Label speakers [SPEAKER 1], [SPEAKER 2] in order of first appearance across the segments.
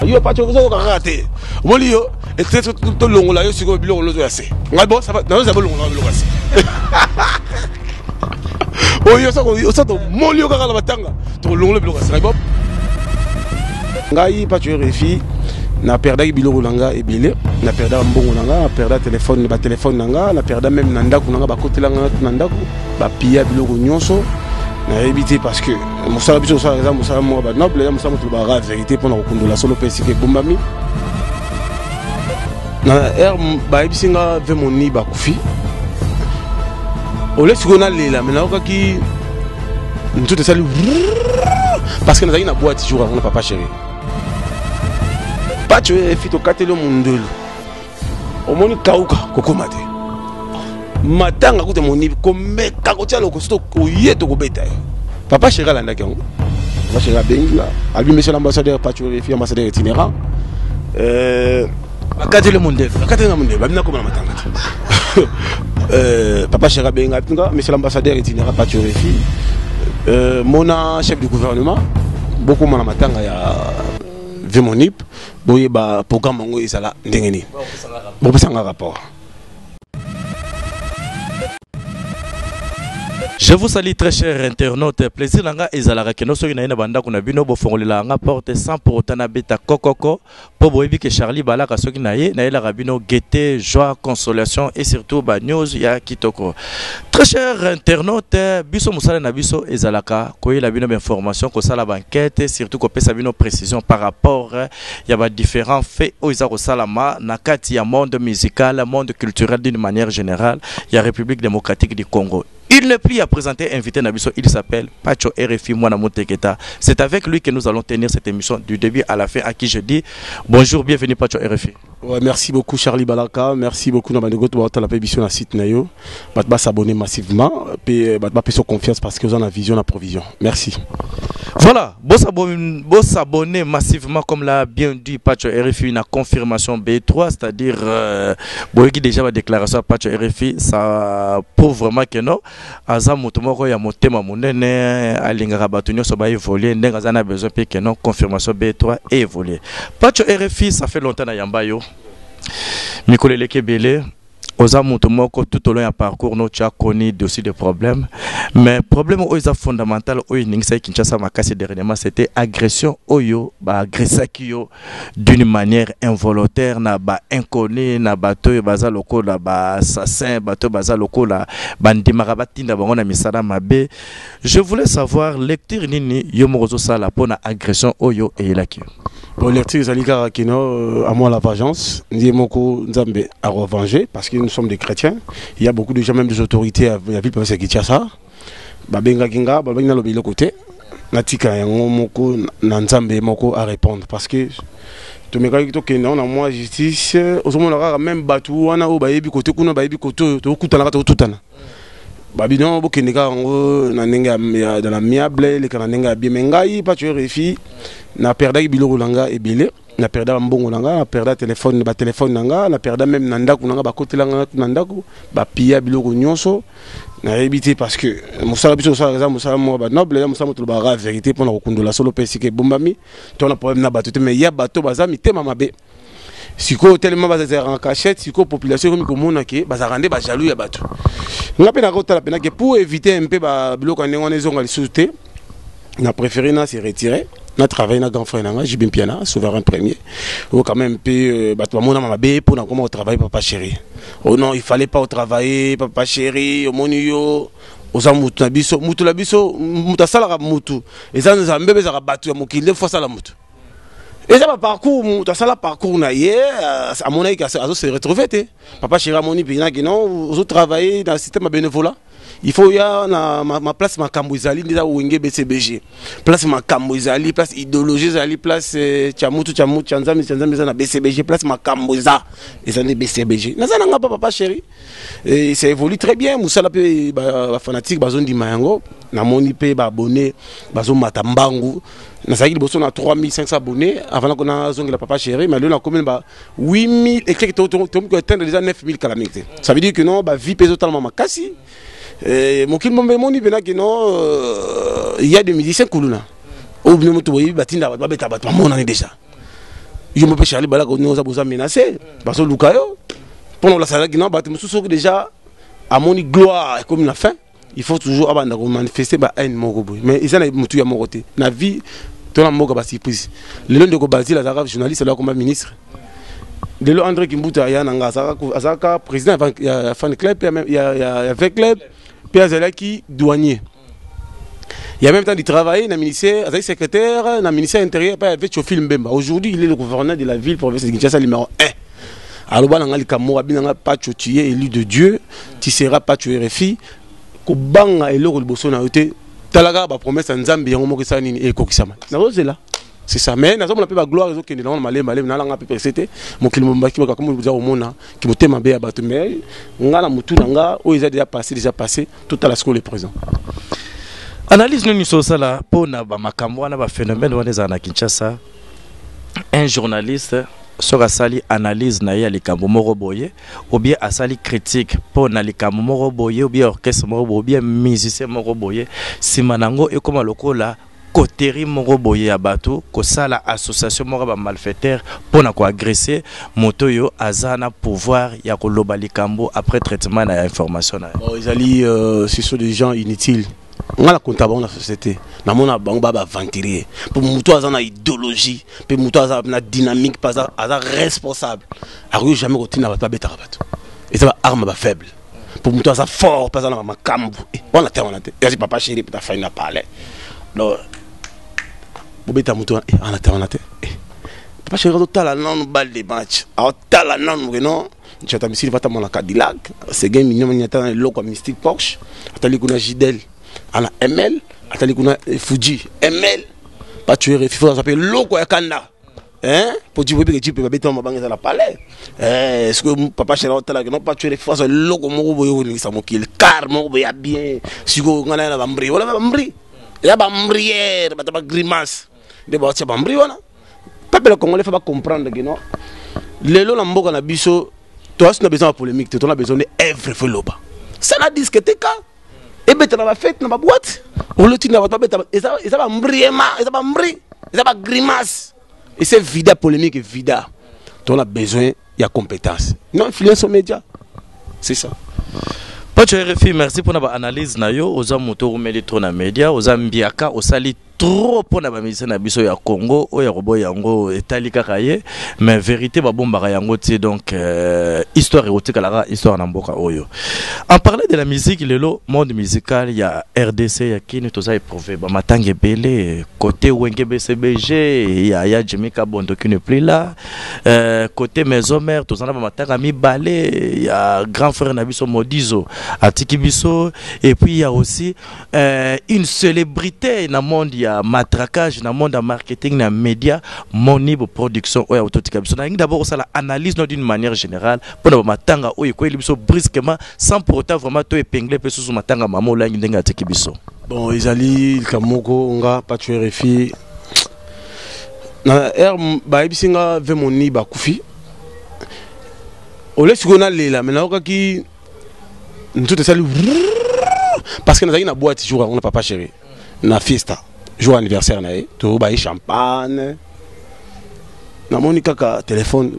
[SPEAKER 1] yo pacho ozokoka kaka te omoni yo tolongola yo sikoyo biloko lozo ya se ngai bo nazoza bolongola biloko ya se oyo osa tomoni yo kaka na matanga tokolongola biloko ya se ngai bo ngai pacho refi na perdaki biloko na nga ebele na perda mbongo na nga na perda telefone batelefone na nga na perda meme na ndako na nga bakotela nga na ndako Ba pilla biloko nyonso nayebi te parce que mosala biso osala eza mosala moko ba noble eza mosala moto lobaka verité mpo na kokundola solo mpe esika ebombami na heure bayebisi nga ve moni bakufi ole sikoyo nalela me nayokaki nzoto esali parce que nazalaki na boite jour yango na papa chéri pacho efi tokateli yo mondelo omoni kauka kokoma te matanga kuta monibi komeka kotya lokoso koye tokobeta ye papa sheri alandaki yango papa sheri abengi nga abi monsieur l'ambassadeur pachorefi ambassadeur itinérant euh, akateli mondefu akateli nga mondefu abi nakoma na matanga te euh, papa sheri abengi abi nga monsieur l'ambassadeur itinérant pachorefi euh, mona chef du gouvernement bokoma na matanga ya vimonip boyeba programme yango ezala ndenge nini bopesanga rapport
[SPEAKER 2] Je vous salue très cher internaute. Plaisir nanga ezalaka keno soki na yena banda kuna bino bo fongolela nga porte sans pour autant na beta kokoko po boyebi que Charlie balaka soki na ye na yela bino gaieté, joie, consolation et surtout ba news ya kitoko. Très cher internaute, biso musala na biso ezalaka koyela bino ba information, kosala ba enquête, surtout kopesa bino précision par rapport eh, ya ba différents faits oyo eza kosalama na kati ya monde musical, monde culturel d'une manière générale ya République démocratique du Congo. Il n'est plus à présenter invité na biso, il s'appelle Pacho RFI Mwana Muteketa. C'est avec lui que nous allons tenir cette émission du début à la fin à qui je dis bonjour, bienvenue Pacho RFI. Ouais, merci beaucoup
[SPEAKER 1] Charlie Balaka, merci beaucoup na bandeko to batala pe biso na site na yo. Bat ba s'abonner massivement pe bat ba peso confiance parce que vous en a vision na provision. Merci. Voilà,
[SPEAKER 2] bo s'abonner bo s'abonner massivement comme l'a bien dit Pacho RFI na confirmation B3, c'est-à-dire euh, boyeki déjà la déclaration à Pacho RFI, ça prouve vraiment que non. aza mutu moko ya motema munene alingaka batu nioso ba evoluer ndenge aza na besoin pe que non confirmation B3 e evoluer Pacho RFI ça fait longtemps na yamba yo mikolo eleki ebele oza mutu moko tout au long ya parcours no tu as connu dossier de problème mais problème oyo eza fondamental oyo eningisaki Kinshasa makasi dernièrement c'était agression oyo ba agressaki yo d'une manière involontaire na ba inconnus na bato oyo baza lokola ba assassin bato baza lokola bandimaka batinda bango na misala mabe je voulais savoir lecture nini yo moko ozosala mpo na agression oyo eyelaki yo bon lecture
[SPEAKER 1] ezali kaka kino euh, à moi la vengeance ndiye moko nzambe akovenger parce que nous sommes des chrétiens il y a beaucoup de gens même des autorités ya ville province ya kinshasa babengaki nga babaki naloba eloko te natika yango moko na nzambe moko a répondre parce que tomekaki tokende yango na mwa justice ozomona kaka meme bato wana oyo bayebi kote kuna bayebi kote oyo tokokutanaka tokotutana babino bokende kaka yango na ndenge ya dans la miable eleka na ndenge ya bien me ngai pacho refi na perdaki biloko na ngai ebele na perda bambongo na nga na perda telefone batelefone na nga na perda meme na ndako na nga bakotela nga na ndako bapia biloko nyonso nayebi te parce que mosala biso tosalaka eza mosala moko banoble eza mosala motolobaka verité mpo na kokundola solo mpe esika ebombami to na problème na bato te mais ya bato baza mitema mabe sikoyo telema bazalaka na cachette sikoyo population ekomi komona ke bazalaka nde bajalou ya bato nga mpe nakotala mpenake pour éviter mpe biloko ya ndenge wana ezonga lisusu te na préféré na se retirer na travaille na grand frère na nga JB Mpiana souverain premier ou oh, quand même pe euh, bato bamona ma mabe mpo na koma otravaille papa chéri o oh non il fallait pas otravaille papa chéri omoni yo oza mutu na biso mutu na biso mutu asalaka mutu eza nzambe mpe ezalaka bato ya mokili nde fo asala mutu eza baparcours mutu asala parcours na ye euh, amonaki azose retrouve te Papa Chira moni pena que non ozo travailler dans le système ya bénévolat. Il faut ya na ma, ma place makambo ezali ndeza wenge BCBG. Place makambo ezali, place idéologie ezali, place euh, chamutu chamutu chanzami chanzami eza na BCBG, place makambo eza ezali BCBG. Naza nanga pa papa chéri. Et ça évolue très bien, musala pe ba, ba fanatiques bazo ndima yango. Na moni pe ba abonnés bazo mata mbangu. Nazalaki liboso na 3500 abonnés avant na kona zongela papa chéri, mais lelo na commune ba 8000 et quelques to to to atteindre déjà 9000 kala mingi te ça veut dire que non ba vie peso talama makasi euh mokili bombe moni pena que non euh, il y a des musiciens kuluna au bino moto boyi batinda ba beta ba mona ni déjà yo mpe Charlie balaka ni oza boza menacé baso luka yo pona la sala que non ba mususu déjà amoni gloire comme la fin il faut toujours abanda ko manifester ba haine moko boye mais eza na mutu ya moko te na vie to na mboka ba surprise lelo ndeko Bazil azalaka journaliste lelo akoma ministre lelo André Kimbuta aya na nga azalaka président ya fan club ya ya ya V club pe azalaki douanier il y a même temps de travailler dans le ministère, avec secrétaire, dans le ministère intérieur, pas avec Chofil Mbemba. Aujourd'hui, il est le gouverneur de la ville, province de Kinshasa, numéro 1. aloba na ngai likambo moko abina ngai pacho tu es élu de dieu tu seras pacho rfi kobanga eloko liboso na yo te tala kaka bapromese ya nzambe yango moko esala nini ekokisama nazozela c'est ça mais nazomona mpe bagloire ezokende nango na malembe malembe nalanga mpe prese te mokili mobaki bakakomi boza komona kimotema mabe ya bato mais nga na motu na nga oyo eza déjà passé déjà passé totala sikoyo le présent
[SPEAKER 2] analyse nini osala mpo na bamakambo wana baphénomène wana ezala na kinshasa un journaliste soki asali analyse na ye ya likambo moko boye ou bien asali critique mpo na likambo moko boye ou bien orchestre moko boye ou bien musicien moko boye nsima na yango ekóma lokola coterie moko boye ya bato kosala association moko ya bamalfaiteur mpo na koagresse moto oyo aza na pouvoir ya koloba likambo après traitement na ya information na ye bon, ezali euh,
[SPEAKER 1] ce sont des gens inutiles nga na konta bango na société na mona bango ba aventurier mpo moto aza na idéologie mpe moto aza na dynamique mpe aza, aza responsable akoki jamais kotinda bato babetaka bato eza ba arme ba faible mpo moto aza fort mpe aza na makambo eh, wana te wana te yazi papa chéri mpe tafai na palais donc bobeta moto wana eh, wana te wana te eh, papa chéri azotala nanu balle de match aotala nanu ke non Chata misiri vata mwana Cadillac, Seguin Mignoma nyata na eloko Mystic Porsche, atali kuna Gidel, ana ML, atali kuna eh, Fuji, ML, pas tuer et FIFA s'appelle loko ya kanda. Hein? Pour dire que tu peux pas bêter ma banque dans la palais. Eh, est-ce que papa chéri on t'a non pas tuer les fois loko moko boyo ko nisa mokil car moko boya bien. Siko ngana na bambri, wala bambri. Ya bambrière, bata ba grimace. nde baotia bambri wana peuple congolais fa bacomprendre ke non lelo na mboka na biso toasi na besoin ya polémique te tona besoin nde evre fo eloba sala diske te ka ebeta na bafete na baboite oloti na bato babeta eza bambri ema eza bambri eza bagrimace ese vida polémique vida tona besoin ya compétence non influence au média c'est ça Pacho
[SPEAKER 2] RFI, merci pour votre analyse. Nayo, oza moto roumeli trop na média, oza mbiaka, osali trop mpo na bamusicien na biso ya congo oyo akoboya yango etali kaka ye mais verité babombaka yango te donc euh, histoire ekotikalaka histoire na mboka oyo en parlant de la musique lelo monde musical ya rdc ya kini toza éprouve bamatanga ebele côté wenge bcbg ya ya jimi kabondo qui ne plus là euh, côté maison mère toza na bamatanga mibale ya grand frère na biso modizo atiki biso et puis ya aussi euh, une célébrité na monde ya matraquage na monde ya marketing na média monibo production oyo autotika biso nalingi d'abord osala analyse no d'une manière générale mpo na bamatanga oyo ekweli biso brusquement sans pour autant vraiment to épingle mpe susu matanga mama olangi ndenge atiki biso bon ezali
[SPEAKER 1] likambo moko nga pacho rfi na r bayebisi nga ve moni bakufi ole sikoyo nalela me nayokaki nzoto esali parce que nazalaki na boîte jour yango na papa chéri na fiesta jour anniversaire na ye tobaye champagne namoni kaka téléphone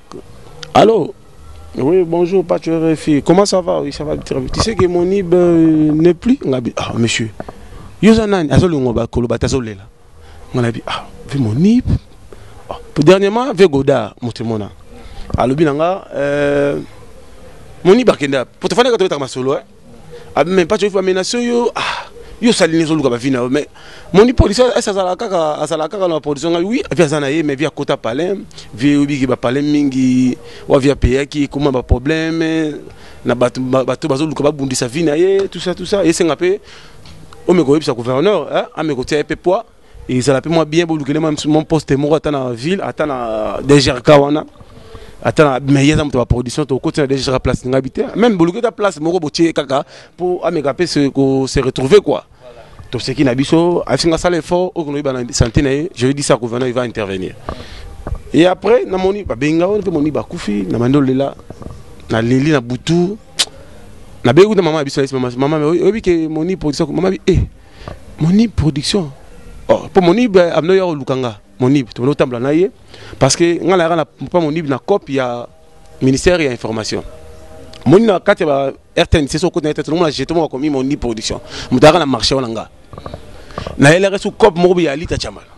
[SPEAKER 1] allo oui bonjour pas tu refi comment ça va oui ça va très bien tu sais que mon ib euh, n'est plus ngabi ah monsieur yo oza nani azolongo bakoloba te azolela nga na bi ah ve monip ah, po dernièrement ve goda moto mona alobi na nga euh, monip akende po tofandi ka tobetaka masolo eh ah mais pas tu vas menacer yo ah yo sali ne zoluka ba vie na yo mais monip polisi esa azala kaka azala kaka na polisi nga oui vie aza na ye mais vie akota palais vie obi ki ba palais mingi wa vie apeyaki koma ba problème na bato bato bazoluka babundisa vie na ye tout ça tout ça esenga pe oyo mekoyebisa gouverneur eh, amekotia ye mpe poids ezala mpe mwa bien bolukele mwa poste moko ata na ville ata na dgrk wana ata na meilleur aza moto ya baproduction tokoti na dgrk place na ngai bi te meme boluki ata place moko botie kaka mpo ameka mpe se retrouver quoi toseki na biso afinga asala effort oyo konoyeba na santé na ye je dis ça gouverneur il va intervenir et après namoni babengi ngai mpe moni bakufi na bandi olela naleli na butu na beku na maman biso na maman maman oyebi ke moni production maman bi eh moni production oh po moni ba amno yo lukanga moni to no tambla na ye parce que nga la na pa moni na cop ya ministère ya information moni na kati ba RTN c'est so ko na tete na jeto mo ko mi moni production mutaka na marché wana nga na ele resu cop mo bi alita chamala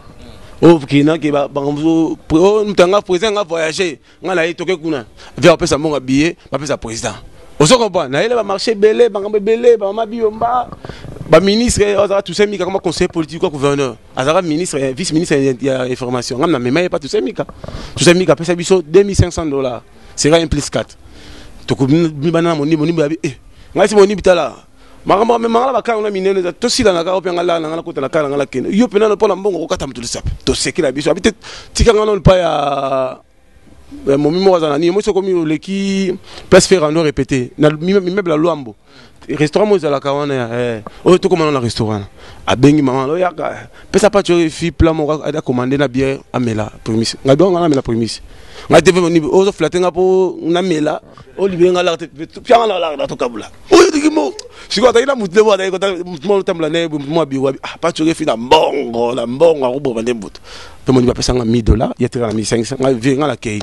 [SPEAKER 1] o kina ke ba bango mutanga president nga voyager nga na ye toke kuna via opesa mbongo ya billet bapesa président ozo comprendre nayele bamarché ebele makambo ebele bamama biyomba baministre azalaka toussaint mika kama conseiller politique ya gouverneur azalaka ministre eh, vice ministre ya information ngai namema ye pa toussaint mika toussaint mika apesa biso 2500 dollars sera un plus 4 tokomibana na monimbo monimbo yabi e eh, ngai si monimbi tala makambo amema nga na bakala na minene eza tosilana kaka ope nga laa na nga nakota na kala nga nakende yo mpe nano mpo na mbongo kokata moto lisape tosekela biso abi te tika nga nano epai ya eh, momi moko aza na nini moi sokomi oleki place fer ando répété na mimeuble ya lwambo restaurant moko ezalaka wana ya eh, oyo tokomana na restaurant abengi mama oyaka pesa pati oyo efi pla moko akomande na biere amela primise ngai biango ngai namela primise ngai te ozo flate nga mpo namela olibe nga laka te pianga na laka na tokabula sikoyo azali na motu nde mwana ye kota motu mwana otambola na ye boye motu mwa biro abi ah paco okefi na mbongo na mbongo akoboma nde motu mpe moni bapesa nga 1000 dollars ye atikala na misangisa nga vie nga nakei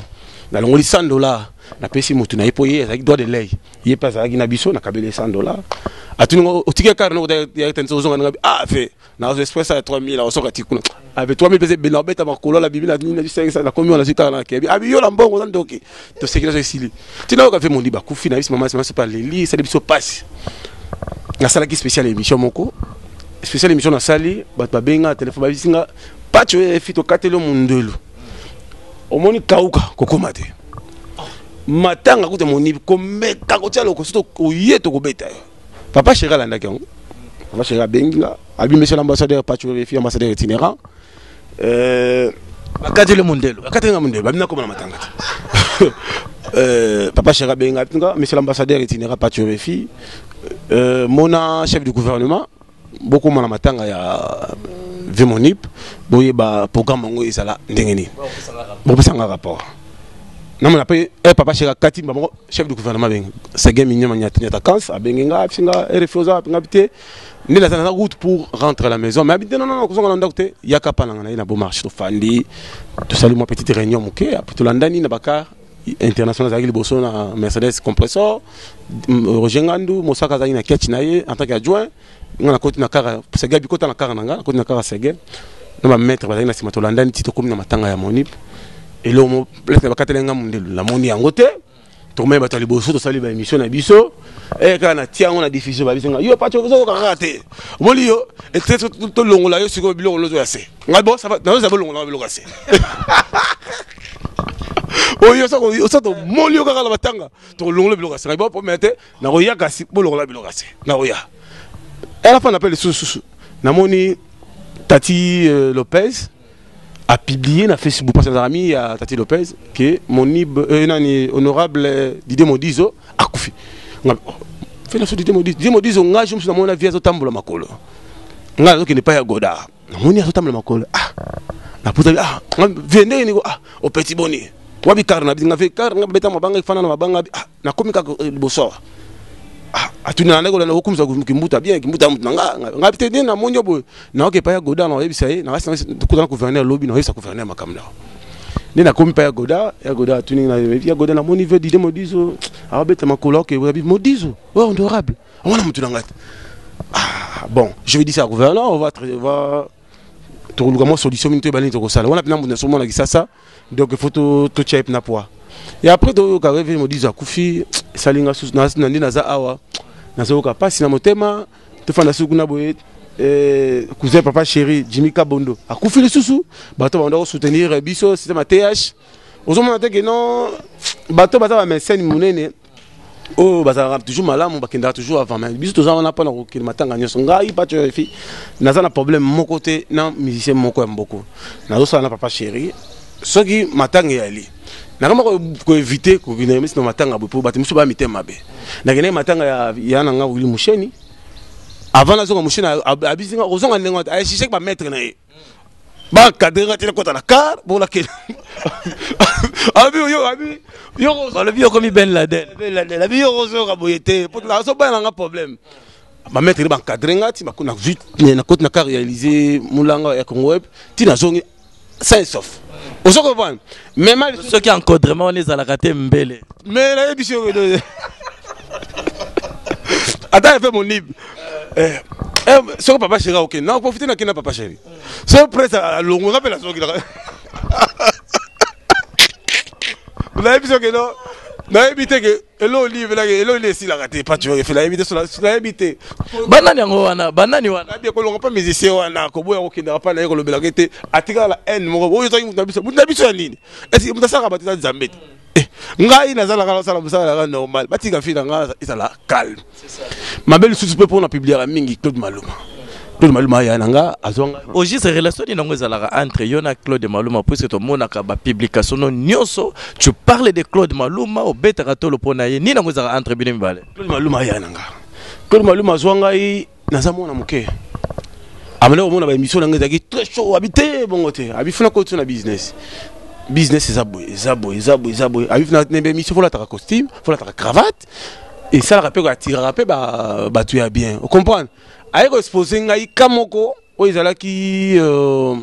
[SPEAKER 1] nalongoli 100 dollars napesi motu na ye mpo ye azalaki droit de lei ye mpe azalaki na biso nakabeli ye 100 dollars atuni nga otiki ekare noko ya tense ozonga nanga ah fe nazo express ya 3000 akosoka ati kuna abe 3000 pese bena obeta makolo la bibi na nini na bisengisa na komi wana sita na kebi abi yola mbongo na ndoki to sekira so sili tina oka fe mondi ba kufi na bisi mama mama pa leli sali biso passe na sala ki special emission moko special emission na sali ba ba benga telephone ba bisinga pacho e fito katelo mundelu omoni kauka kokoma te matanga kuta moni komeka kotia lokoso oye tokobeta yo papa sheri alandaki yango papa sheri abengi nga abi monsieur l'ambassadeur pacho refi ambassadeur itinérant euh,
[SPEAKER 2] bakateli mondelo bakateli nga mondelo babi nakoma na
[SPEAKER 1] matanga te euh, papa sheri abengi nga monsieur l'ambassadeur itinérant pacho refi euh, mona chef du gouvernement bokoma na matanga ya vimonip boyeba programme yango ezala ndenge nini bopesanga rapport namona mpe e eh, papa sheka kati mba moko chef du gouvernement abenge sege minyama nyata kans abenge nga abisi nga rfi oza nga bi te nde naza naza route pour rentrer la maison mais abi te nonono kozonga na ndako te yaka mpa nanga na ye na bomarche tofandi tosali mwa petite réunion moke apo tolandani na bakar international azalaki liboso na mercedes compressor roger ngandu mosaka azalaki na catch na ye en tant que adjoint nga nakoti na kara sege bikota na kara na nga nakoti na kara sege na bamaître bazalaki na nsima tolandani ti tokomi na matanga ya monip eloko place na bakateli nga mondelu namoni yango te tokomai bato ya liboso tosali baémission na biso eh, kaka na tia yango na diffusion babisi nga yo pato ozokoka kaka te omoni yo tolongola yo sikoyo biloko lozo ya se ngai bo nazozala bolongola nga biloko ya se oyo osa tomoli yo kaka na matanga tokolongola biloko ya se nayebi bapomela te nakoya kasi bolongola biloko ya se nakoya alafa na mpe lisusu susu namoni tati euh, lopez a publié na facebook parce que nazalaka mi ya tati lopez ke monib euh, nani honorable euh, didie modizo akufi oh, fe na so didie modizo didie modizo ngai jo mosu namoni na vie azotambola makolo ngai nazokende epai ya goda namoni azotambola makolo ah naputaki ah vie ndenge niko ah opeti boni wabi kar na nga vie kar nga beta mabanga ifana na mabanga ah nakomi kaka eh, liboso awa ah, atuni na ndeko na okumisa kimbuta bien kimbuta mutu na nga nga te na namoni yo boye naoki epai ya goda na oyebisa ye na kasi nakutana gouverneur lobi na oyebisa gouverneur makambo na nde nakomi mpa ya goda ya goda atuni na ya goda namoni vie dide modizo abeta makolo oke modizo honorable On a mutu nanga. Ah bon, je vais dire ça au gouverneur, on va on va tokoluka mwa solution mini toyeba nini tokosala wana mpena moto nyonso omona kisasa donc ifo totya ye mpena poa e après toyoka reve modizo akufi esali nga susu na nde naza awa nazoyoka mpasi na motema tofanda suku na boye eh, cousin papa chéri jimmy kabondo akufi lisusu bato babanda kosoutenir biso système ya th ozomona te ke non bato baza bamesene monene oyo oh, bazalaka toujours malamu bakendaka toujours avant mais biso toza wana mpona kokende matanga nyonso ngai pato efi naza na problème moko te na musicien moko ya mboko nazosala na papa chéri soki matanga eyali nakama koevite kokende misi na matanga boye mpo bato mosusu baya mitema mabe nakendaki matanga ya ya na ngai wili musheni avant nazonga musheni abisinga kozonga ndenge aya shishaki bamaître na ye ba cadre nga te nakota na car bon la ken abi yo abi yo balobi yo komi
[SPEAKER 2] ben laden ben laden abi yo ozo
[SPEAKER 1] ka boye te po na so ba na nga problème ba mettre ba cadre nga ti makuna vite na kota na car réaliser mulanga ya Congo web ti na zongi sain sauf ozo ko mema lisusu soki encodrement wana
[SPEAKER 2] ezalaka te mbele mais nayebi si
[SPEAKER 1] oyo ata efe monibe eh, eh, soki papa sheri aokende naprofite nakende na papa sheri so presse alongo nga mpe nazongilaka nayebi soki no nayebi te ke eloko nini efelaki eloko nini esilaka te paci oyo efela yebi te sola yebi te banani yango
[SPEAKER 2] wana banani wana abi ekolonga mpa musicien
[SPEAKER 1] wana koboya kokendaka mpa na ye kolobelaka ye te atikala na haine moko oyo ezalaki moto na biso moto na biso ya nini esi moto asalaka bato eza nzambe te eh, ngai nazalaka nasala mosala yaka normal batika fina ngai ezala calme mabe lisusu mpe mpo na publiaka mingi claude maluma claude maluma aya na nga azwanga au juste relation nini
[SPEAKER 2] yango ezalaka entre yo na claude maluma puisque tomonaka bapublication no nyonso tu parle de claude maluma obetaka tolo mpo na ye nini yango ezalaka entre bino mibale claude maluma aya na nga
[SPEAKER 1] claude maluma azwa ngai naza mwana moke amana komona baémission na ngai ezalaki très chaud abi te bongo te abi funa kotiso na business business eza boye eza boye eza boye eza boye abi funa na baémission folataka costume folataka cravate Et ça, esalaka mpe atiraka mpe bato ya bien ocomprendre aye koexpose ngai ka moko oyo ezalaki euh,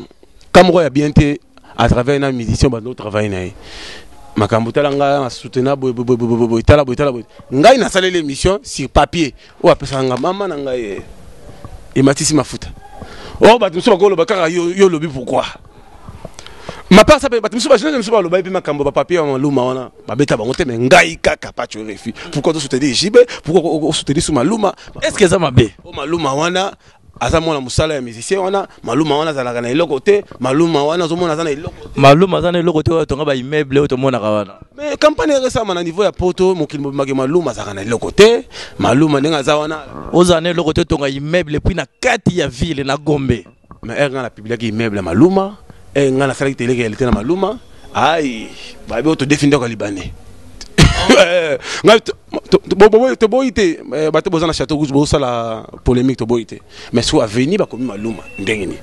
[SPEAKER 1] ka moko ya bien te à travers na musicien bando otravaille na ye makambo tala ngai nasutena boye tala boye tala boye ngai nasaleli émission sur papier oyo apesaka ngai mama na ngai eh, ematisi mafuta oyo oh, bato mosusu bakoloba kaka yo olobi pourkoi mapasa mpe bato mosusu bajeunesse mosusu balobaki mpe makambo bapapier ya maluma wana babeta bango te mais ngai kaka pacho refi pourquoi to soutenir JB pourquoi o soutenir sous Maluma est-ce que ça mabe
[SPEAKER 2] o Maluma wana
[SPEAKER 1] aza mwana musala ya musicien wana Maluma wana azalaka na eloko te Maluma wana azomona aza na eloko Maluma aza na eloko te
[SPEAKER 2] oyo tonga ba immeuble oyo tomonaka wana mais campagne eresama
[SPEAKER 1] na niveau ya poto mokili mobimaki Maluma azalaka na eloko te Maluma ndenge aza wana oza na eloko te tonga
[SPEAKER 2] immeuble puis na kati ya ville na Gombe Mais heure nga na publiaki
[SPEAKER 1] immeuble ya Maluma, heure nga na salaki tele realite na Maluma, aïe, ba bo to defi ndoka libanais. Eh, nga to bo bo to boyi te, eh, ba to bozana château rouge bo sala polemique to boyi te. Mais sur avenue ba komi Maluma ndenge ni.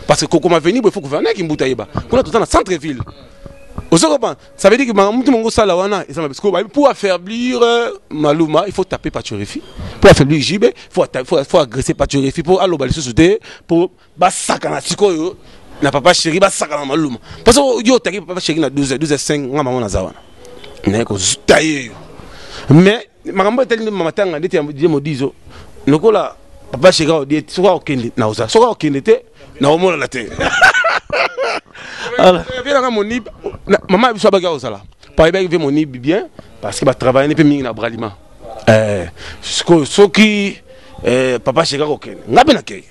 [SPEAKER 1] Parce que kokoma avenue bo faut gouverner ki mbuta yeba. Kuna tozana centre ville. Ozo comprendre? Ça veut dire que makambo mutu mongo sala wana eza mabe. Sikoyo bayebi pour affaiblir euh, Maluma, il faut taper Pachorifi. Pour affaiblir JB, il faut atta- faut faut agresser Pachorifi pour aloba lisusu te pour basakana sikoyo na papa chéri basakana na Maluma. Parce que yo otaki papa chéri na 12 12 5 nga maman naza wana. Mais ko tailler yo. Mais makambo etali nde matanga ndeti ya die modizo lokola papa sheka odie soki akokende naoza soki akokende te naomonana te avienaka moni mama ya biso abaki akozala payebaki mpe moni bien parce que batravaillani mpe mingi na bralima eh, sikoyo soki eh, papa sheka kokende ngai mpe nakei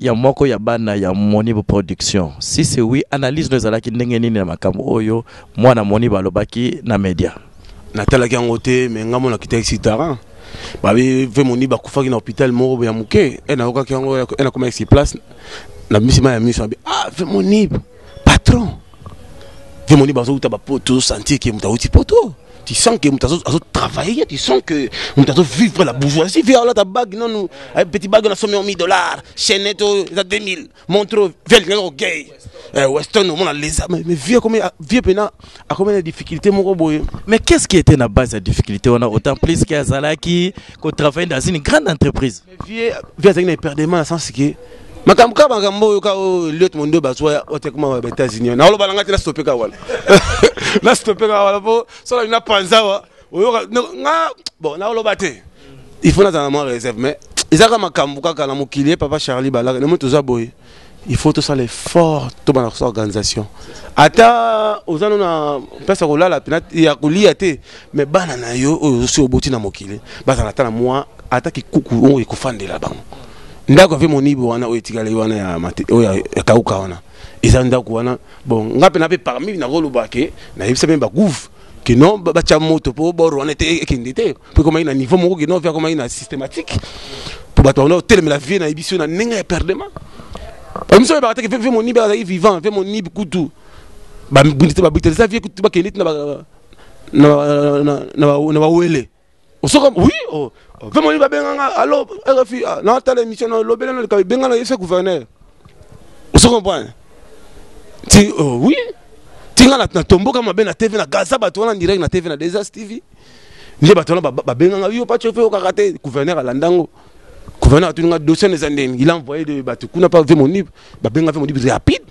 [SPEAKER 2] ya moko ya bana ya Monibo Production. Si c'est oui, analyse no ezalaki ndenge nini na makambo oyo mwana Monibo alobaki na media? Natalaki yango
[SPEAKER 1] te mais nga mona kitaki si tarin babi ve moni bakufaki na hôpital moko ya moke e nayokaki yango e nakomaki si place na bimisi mai ya miso abi ah ve moni patron yo moni bazowuta bapoto ozosentir ke moto awuti poto tu sens que moto azotravaille tu sens que moto azovivre la bourgeoisie vi alata bague nanu eh, petit bague na somi omi dollar chainete oyo eza 2000 montre vi alingaki kokei eh, weston omona lesa mais vie akomi vie mpena akomi na difficulté moko boye mais qu'est ce qui était na
[SPEAKER 2] base ya difficulté wana autant plus ke azalaki kotravaille dans une grande entreprise Vieux vieux azali
[SPEAKER 1] na eperdement na sens que makambo kaka makambo oyo kaka oyo eliot mondo bazwa ote kuma ba états-unis na oloba na ngai te nastope kaka wana nastope kaka wana mpo soki na panza wa oyoka nga bon na oloba te il faut nazala na mwa réserve mais ezalaka makambo kaka na mokili ye papa charlie balaka na moi toza boye il faut tosala effort tobanda kosala organisation ata oza no na place ya kolala ya kolia te mais bana na yo oyo ozosi oboti na mokili bazala ata na mwa ata kikuku oyo ekofandela bango ndako ave monibo wana oyo etikali wana ya oyo ekauka wana eza ndako wana bon nga mpe na mpe parmi nakoloba ke nayebisa mpe bagouve ke non batya moto mpo bor wana ete ekende te mpo ekomaki na niveau moko kino mpe akomaki na systématique mpo bato banda kotelemela vie na biso na ndenge ya perdema biso oyebaka teke mpe monibe azalaki vivant mpe monibe kutu babitelisa vie kutu bakende ti na bawele osoka oui oh. mpe monibe babenganga alo rfi ah, natala émission na lobele na likabi bengana ye se gouverneur oso comprendre ti oh, oui tinga na tomboka mabe na tv na gaza bato wana direct na tv na desas tv nde bato wana babenganga yo pacho mpe okaka te gouverneur alanda yango gouverneur atuni nga dossier eza ndeni il envoye de bato kuna mpa ve monib babenga ve monib rapide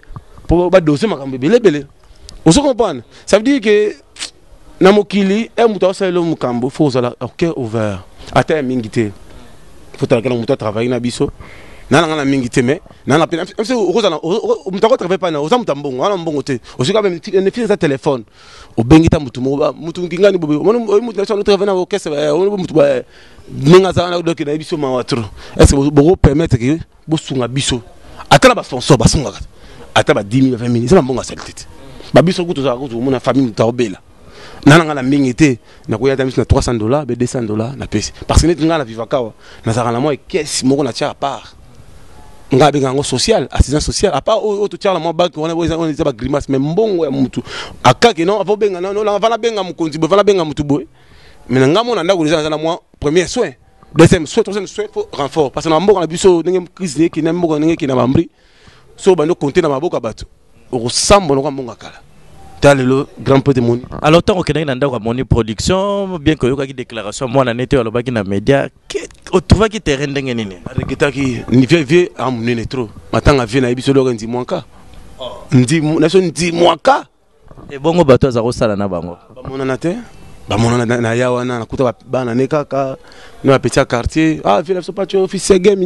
[SPEAKER 1] mpo badose makambo ebele ebele ozo comprendre ça veut dire que na mokili e moto aosalelo mokambo fo ozala cœur ouvert ata ya mingi te fotalakela moto atravaille na biso nana nga na mingi te mais nana mpe okozala moto akotravaille mpana oza moto ya mbongo wana mbongo te ozoka meme eza telefone obengi ta mutu moko mutu ngingani bobe omoni oyo mutu na sanu travail na orchestre ba omoni bo mutu ba ninga za na doki na biso mawa trop est ce que boko permettre que bo sunga biso ata na ba sponsor ba sunga ata ba 10000 20000 ça mbonga salite te ba biso kutu za kutu mona famille mutu obela nana nga na mingi te na koya ta miso na 300 dollars be 200 dollars na pesi parce que net nga na vivakawa na zaka na moi caisse moko na tia à part nga abenga yango social assistance sociale apa oyo totyaka mwa banke wana eza bagrimace mais mbongo ya motu akake non ava obenga vana benga mokonzi boye vana benga motu boye mais na ngai mona ndako deja naza na mwa premier soin deuxième soin troisième soin fo renfort parce que na mboka na biso ndenge crise ndenge ekende mboka ndenge ekende na bambri so obandi okonte na maboko ya bato okosambwa noko mbongo ya kala ta lelo grand pote moni alors ntango okendaki na ndako amoni production bien que oyokaki déclaration mwana nete oyo alobaki na média otrouvaki terrain ndenge nini areketaki vie vie amunene trop matanga vie na ye biso eloko ndimwaka naso ndimwaka ebongo bato aza kosala na bango bamonana te bamonana na ya wana nakuta bana ne kaka na bapeti ya quartier ah vie na biso paco fils ya game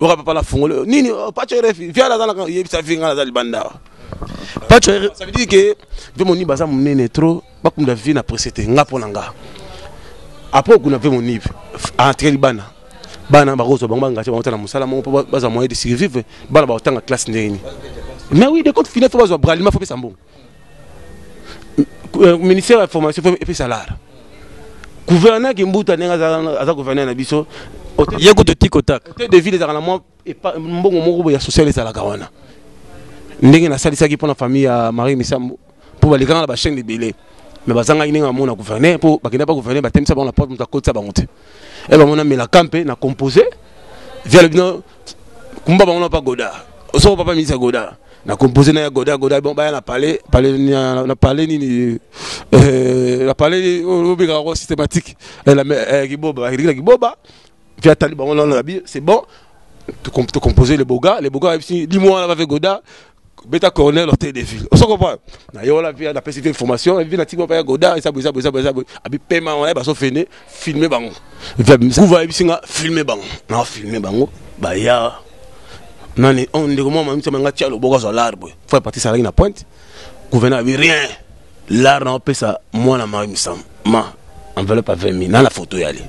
[SPEAKER 1] oka papa la fongolo nini oh, pacho refi viala za na yebisa vinga na za libanda pacho ça veut dire que ve moni baza munene trop bakunda vie na presse te nga pona nga après okuna ve moni entre libana bana bakozwa bango bangati bango ta na mosala moko mpo bazwa moyen de survivre bana bakotanga classe ndenge nini mais oui de compte final fo bazwa bralima fo pesa mbongo euh, ministère ya formation fo epesa lara gouverneur kimbuta ndenge aza gouverneur na biso ye kutu tikotaka hotel de ville ezalaka na mwa mbongo moko boye ya social ezalaka wana ndenge nasalisaki mpo na famille ya marie misambo mpo balekanga na bachaine ebele me bazangaki ndenge bamona gouverneur mpo bakenda mpa gouverneur batemisa bango na porte moto akotisa bango te e bamona melaka mpe na compose viale bino kumba bango na pa goda osoko papa ministre goda na composé na ya goda goda bon baya na palais palais na palais nini euh, na palais obika ko systématique eh, la eh, kiboba la kiboba puis atali bango na na c'est bon to composer les boga les boga dis-moi avec goda beta cornel hotel de ville oso comprendre na yo la vie na pesi vie formation vie na timo pa goda esa boza boza boza abi pema wana ba so fene filmer bango kuva ebisinga filmer bango na filmer bango ba ya nani on ndeko mwa mamisa manga tia loboko zo l'arbre faut partir ça na pointe gouverneur abi rien l'art na pesa mwana ma misam ma enveloppe à 20 000 na la photo yale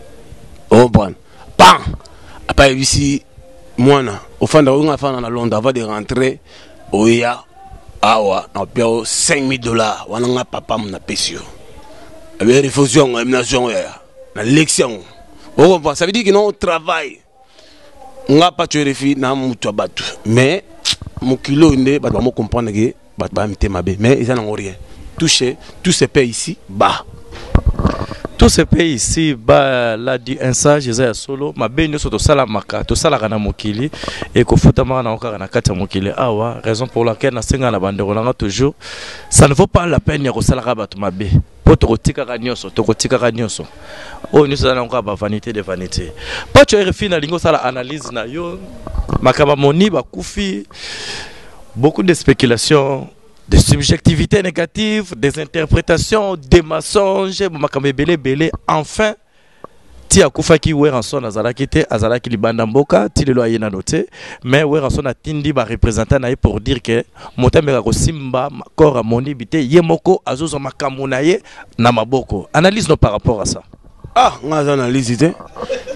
[SPEAKER 1] oh bon pan apa ayebisi mwana ofanda oyo afanda na londres avant de rentrer oya awa napia o 5000 dollars wana nga papa mo napesi yo abe refusi yango emi nazwi yango yaya nalekisi yango okompa ça veut dire que non travail nga paco refi na moto ya bato mais mokili oyo nde bato bamokomprendre ke bato baya mitema mabe mais eza nango rien touche tout se paye ici bas tout se paye ici bas la di un sage eza ya solo mabe nyonso tosalamaka tosalaka na mokili ekofutamaka nango kaka na kati ya mokili awa raison pour laquelle nasenga na bandeko nanga toujours ça ne vaut pas la peine ya kosalaka bato mabe po tokotikaka nyonso tokotikaka nyonso oyo nyonso eza nango kaka bavanité de vanité paco rfi nalingi osala analyse na yo makambo amoni bakufi beaucoup de spéculation des subjectivités négatives des interprétations des mensonges makambo ebele ebele enfin ti akufaki Werrason azalaki te azalaki libanda mboka ti lelo aye nano te mais Werrason atindi ba representant na ye pour dire que moto ameka kosimba corps ya Monibi te ye moko azozwa makambu na ye na maboko analyse no par rapport à ça. Ah nga naza analyse te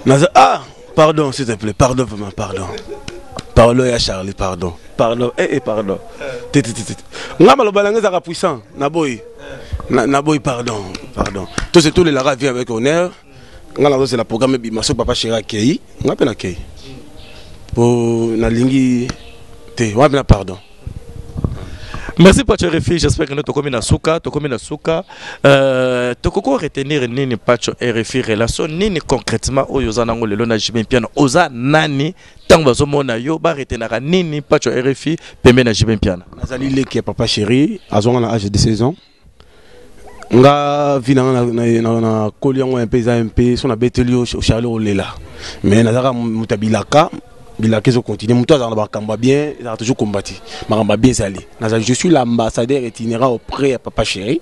[SPEAKER 1] naza ah Pardon, s'il te plaît, pardon vraiment, pardon. Pardon ya Charlie, pardon. Pardon, eh eh pardon. Titi titi. Nga maloba nanga ezaka puissant, na boy. Na, na boy pardon, pardon. Tous tous les lara vie avec honneur. Nga na c'est la programme bi maso papa chéri akei, nga pe na kei. Po na lingi te, wa pe na pardon.
[SPEAKER 2] merci pacho refuge j'espère que tokomi na suka tokomi na suka euh, tokoki koretenir nini pacho rfi relation nini concrètement oyo oza nango lelo na jb mpiana oza nani ntango bazomona yo baretenaka nini pacho rfi pembe na jb mpiana nazali leki ya papa
[SPEAKER 1] chéri azwanga na age de 16 ans nga vie nanga nakoli yango mpe eza mpe so nabeteli yo charle olela mais nazalaka moto ya bilaka bilaka ezo continue moto azalaka na makambo ya bien ezalaka toujours combati makambo ya bien ezali nazali je suis l'ambassadeur itinéra auprès ya papa chéri